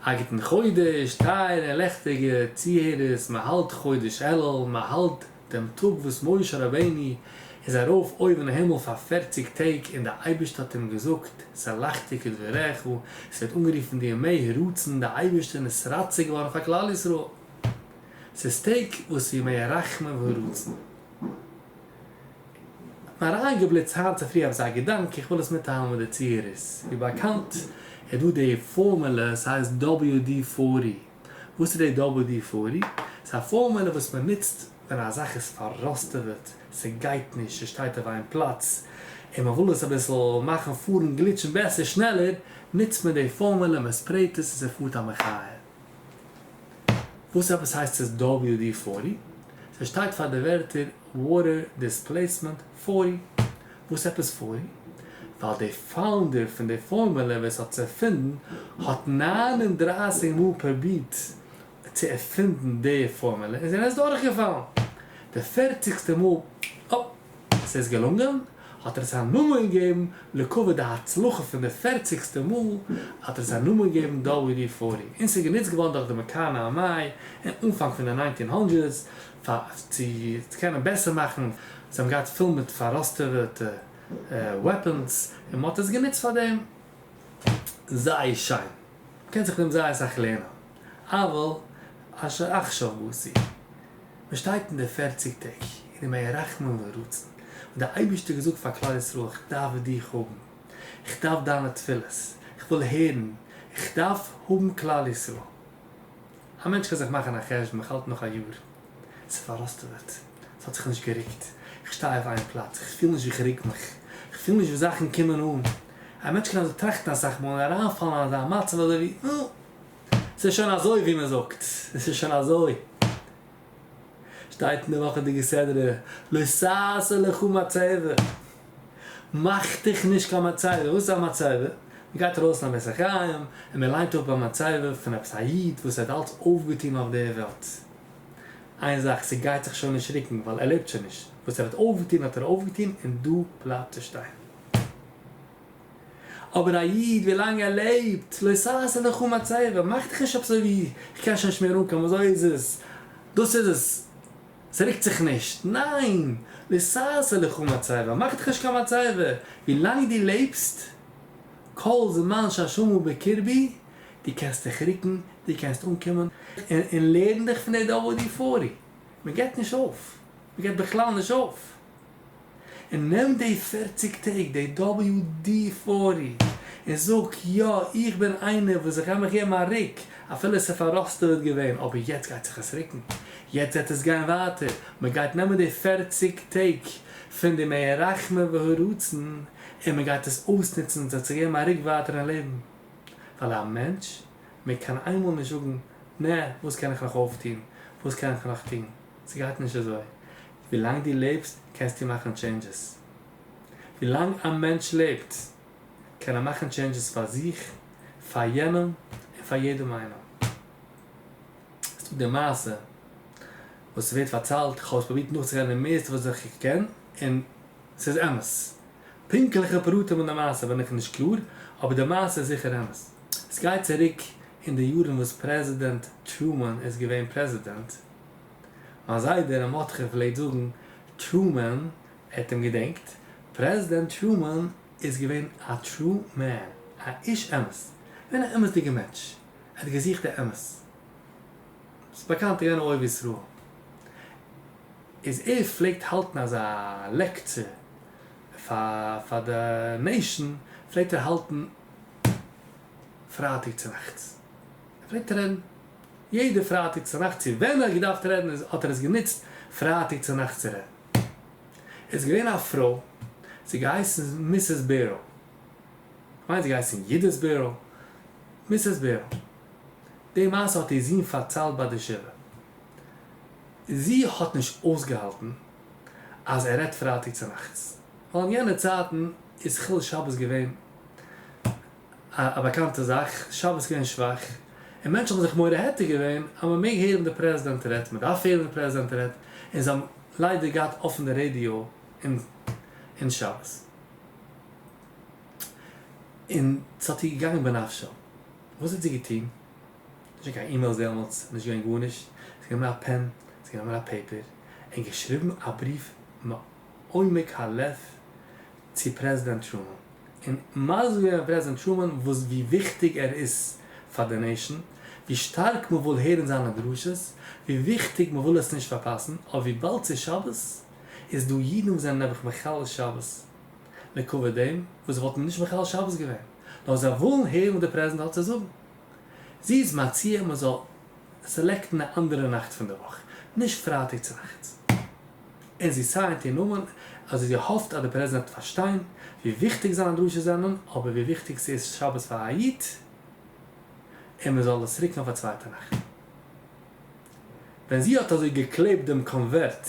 א גוטן חודש טייערע לעכטיגע צוהערערס, מען האלט חודש אלול, מען האלט דעם טאג וואס משה רבינו איז ארויף אויבן הימל פאר פֿערציק טעג און די אייבערשטער האט אים געזאגט סלחתי כדבריך, עס ווערט אנגערופן די ימי הרצון די אייבערשטער איז רצה געווארן פאר כלל ישראל, ס'איז טעג וואס ימי הרחמים והרצון. כ'בין אריינגעבליצט היינט צופרי אויף זיי געדאנק, איך וויל עס מיטטיילן מיט די צוהערערס. ווי באקאנט איז דא די פארמולע, ס'הייסט WD פארטי. וואס איז די WD פארטי? ס'איז א פארמולע וואס מען נוצט ווען א זאך איז פארראסטעוועט, ס'גייט נישט, ס'שטייט אויף איין פלאץ, און מען וויל עס אביסל מאכן פארן גליטשן בעסער, שנעלער, נוצט מען די פארמולע, מען ספרעיט עס און ס'פארט א מחיה. וואס עפעס הייסט עס WD פֿאָרטי? סע שטייט פאר די ווערטער Water Displacement פֿאָרטי. וואס עפעס פֿאָרטי? ווייל די פאונדער פון די פארמולע ווער עס האט עס ערפינדן האט נײַן און דרײַסיק מאל פרובירט צו ערפינדן די פארמולע און זי איז דורכגעפאלן די פערציגסטע מאל. ס'איז געלונגען, האט ער עס א נאמען געגעבן לכבוד די הצלחה פון די פערציגסטע מאל, האט ער עס א נאמען געגעבן דאווי די פארי, און ס'איז גענוצט געווארן דורך די מקאנא ארמיי אין אנפאנג פון די ניינטין הונדרעדס פאר צו קענען בעסער מאכן, זיי האבן געהאט פול מיט פאראסטעוועטע וועפענס און מען האט עס גענוצט פאר דעם, זייער שיין, מען קען זיך פון דעם זייער אסאך לערנען, אבל אשר אחשוב בוסי. מען שטייט אין די פערציג טעג און אין מיין רחמים ורצון האט דער אייבערשטער געזאגט פאר כלל ישראל איך דארף דיך האבן, איך דארף דיינע תפילות, איך וויל הערן, איך דארף האבן כלל ישראל. א מענטש קען זיך מאכן א חשבון איך האלט נאך א יאר, עס איז פאראסטעוועט, עס האט זיך נישט גערוקט, איך שטיי אויף איין פלאץ, איך פיל נישט ווי איך רוק מיך, איך פיל נישט ווי זאכן קומען אן, א מענטש קען אזוי טראכטן אסאך מאל און אריינפאלן אין אזא מצב אזוי ווי נו. עס איז שוין אזוי ווי מען זאגט, עס איז שוין אזוי. שטייט אין די וואכעדיגע סדרה, לא ששה לך מצבה, מאך דיך נישט קיין מצבה, וואס איז א מצבה? מען גייט ארויס פון א בית החיים און מען ליינט אפ א מצבה פון עפעס א איד וואס ער האט אלץ אויפגעטון אויף דער וועלט, איין זאך, ס'גייט זיך שוין נישט רוקן ווייל ער לעבט שוין נישט, וואס ער האט אויפגעטון האט ער אויפגעטון און דא בלייבט עס שטיין. אבער א איד ווילאנג ער לעבט, לא ששת לך ומצבה, מאך דיך נישט אזוי ווי איך קען שוין נישט מער אנקומען, אזוי איז עס, דאס איז עס, ס'רוקט זיך נישט, ניין, לא ששת לך ומצבה, מאך דיך נישט קיין מצבה, ווילאנג דו לעבסט, כל זמן שהשמע בקרבי, דו קענסט דיך רוקן, דו קענסט אנקומען, און לערן דיך פון די דבר דפורי, מען געבט נישט אויף, מען געבט בכלל נישט אויף. און נעם די פֿערציק טעג די דאבעליו די פארי און זאג יא איך בין איינער וואס איך גיי מיך געבן א ריק אפילו עס איז פאראסטעוועט געווען אבער יעצט גייט זיך עס ריקן יעצט וועט עס גיין ווייטער מען גייט נעמען די פֿערציק טעג פון די מי הרחמן והרצון און מען גייט עס אויסנוצן עס וועט זיך געבן א ריק ווייטער אין לעבן ווייל א מענטש מעג קיין איינמאל נישט זאגן נע וואס קען איך נאך אויפטון וואס קען איך נאך טון ס'גייט נישט אזוי. ווילאנג דו לעבסט קענסטו מאכן טשעינדזשעס. ווילאנג א מענטש לעבט קען ער מאכן טשעינדזשעס פאר זיך, פאר יענעם, און פאר יעדעם איינעם. עס איז דא די מעשה וואס ווערט פארציילט, איך האב עס פרובירט נאכצוגיין די מערסטע וואס איך קען, און עס איז אמת. פונקטליכע פרטים אין די מעשה בין איך נישט קלאר, אבער די מעשה איז זיכער אמת. עס גייט צוריק אין די יארן וואס פרעזידענט טרומאן איז געווען פרעזידענט. מיין זיידע ר' מרדכי פלעגט זאגן טרומען ער'ט אים געדענקט, פרעזידענט טרומען איז געווען א טרו מען, א איש אמת, געווען א אמת'דיגע מענטש, ער האט געזוכט די אמת, ס'איז באקאנט ער איז געווען א אוהב ישראל, איז ער פלעגט האלטן אזא לעקטשור פאר די נעישאן, פלעגט ער האלטן פרייטאג צונאכטס, ער פלעגט רעדן. יעדע פרייטאג צונאכט צו ווען ער האט געדארפט רעדן איז האט ער עס גענוצט פרייטאג צונאכטס צו רעדן. עס איז געווען א פרוי ס'האט געהייסן מיסעס בערל, איך מיין ס'האט געהייסן יודית בערל, מיסעס בערל, די מעשה האט איר זון פארציילט ביי די שבעה, זי האט נישט אויסגעהאלטן אז ער רעדט פרייטאג צונאכטס, ווייל אין יענע צייטן איז חילול שבת געווען א באקאנטע זאך, שבת געווען שוואך, און מענטשן האבן זיך מורא'דיג געווען אז מען מעג הערן די פרעזידענט רעדט, מען דארף הערן ווי די פרעזידענט רעדט, און זיי האבן ליידער געהאט אפן די רעדיא אין שבת, און ס'האט איר געגאנגען בנפשה, וואס האט זי געטון? נישט געווען קיין אימעילס דעמאלטס, נישט געווען גארנישט, זי האט גענומען א פען, זי האט גענומען א פעיפער, און געשריבן א בריוו מעומק הלב צו פרעזידענט טרומען. און מסביר ווען פרעזידענט טרומען וואס ווי וויכטיג ער איז פאר די נעישאן, ווי שטארק מ'וויל הערן זיינע דרשות, ווי וויכטיג מ'וויל עס נישט פארפאסן, אבער וויבאלד ס'איז שבת, איז דא אידן וואס זענען נעבעך מחלל שבת מכבוד דעם וואס זיי וואלטן נישט מחלל שבת געווען, נאר זיי ווילן הערן וואס די פרעזידענט האט צו זאגן. זי איז מציע מ'זאל סעלעקטן א אנדערע נאכט פון די וואך, נישט פרייטאג צונאכטס. און זי סיינט איר נאמען אזוי זי האפט אז די פרעזידענט וועט פארשטיין ווי וויכטיג זיינע דרשות זענען אבער ווי וויכטיג ס'איז שבת פאר א איד און מ'זאל עס רוקן אויף א צווייטע נאכט. ווען זי האט אזוי געקלעבט דעם קאנווערט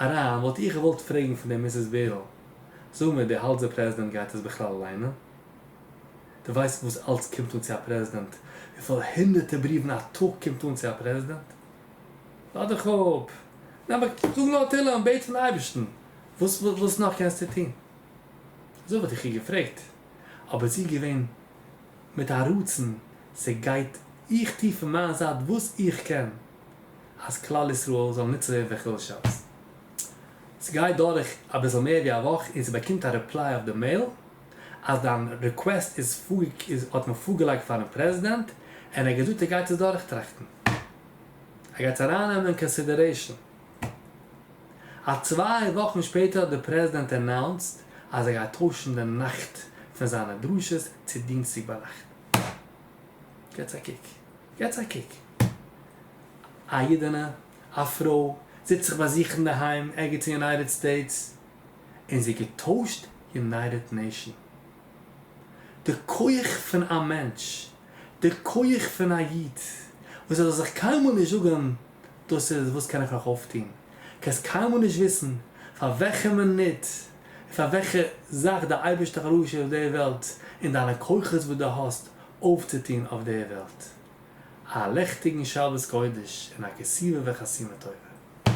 אריין וואלט איך געוואלט פרעגן פון דער מיסיס בערל, זאג מיר דו האלטסט דער פרעזידענט גייט עס בכלל ליינען? דו ווייסט וואס אלץ קומט אן צו א פרעזידענט? וויפיל הונדערטער בריוון א טאג קומט אן צו א פרעזידענט? לאָז דיך אָפּ, נעם אַ קוק, זאָג נאָר תּהילים און בעט פֿון אײבערשטן, װאָס, װאָס נאָך קענסטו טאָן? אַזױ װאָלט איך איר געפֿרעגט, אָבער זי איז געװען מיט אַ רצון, ס'גײט, איך טו פֿון מײַן זײַט װאָס איך קען, אַז כּלל-ישׂראל זאָל ניצול װערן פֿון כּל-שבת. ס'גײט דורך אַ ביסל מער װי אַ װאָך און זי באַקומט אַ רעפּלײ אױף די מעיל, אַז דײַן ריקװעסט איז, איז, האָט מען פֿאָרגעלײגט פֿאַרן פּרעזידענט און ער האָט געזאָגט ער גײט עס דורכטראַכטן. ער גייט ארייננעמען אין קאנסידערעישאן אז צוויי וואכן שפעטער האט דער פרעזידענט אנאונסט אז ער גייט טוישן די נאכט פון זיינע דרשות צו דינסטאג ביינאכט. געטס א קוק, געטס א קוק, א אידענע, א פרוי, זיצט זיך ביי זיך אינדערהיים ערגעץ אין יונייטעד סטעיטס, און זי האט געטוישט יונייטעד נעישאן. דער כח פון א מענטש, דער כח פון א איד, וואס ער זאל זיך קיינמאל נישט זאגן דאס איז וואס קען איך נאך אויפטון, קענסט קיינמאל נישט וויסן פאר וועלכע מינוט און פאר וועלכע זאך דער אייבערשטער האט אראפגעשיקט אויף דער וועלט און דיינע כוחות וואס דו האסט אויפצוטון אויף דער וועלט. א לעכטיגן שבת קודש און א כסליו וחסימה טובה.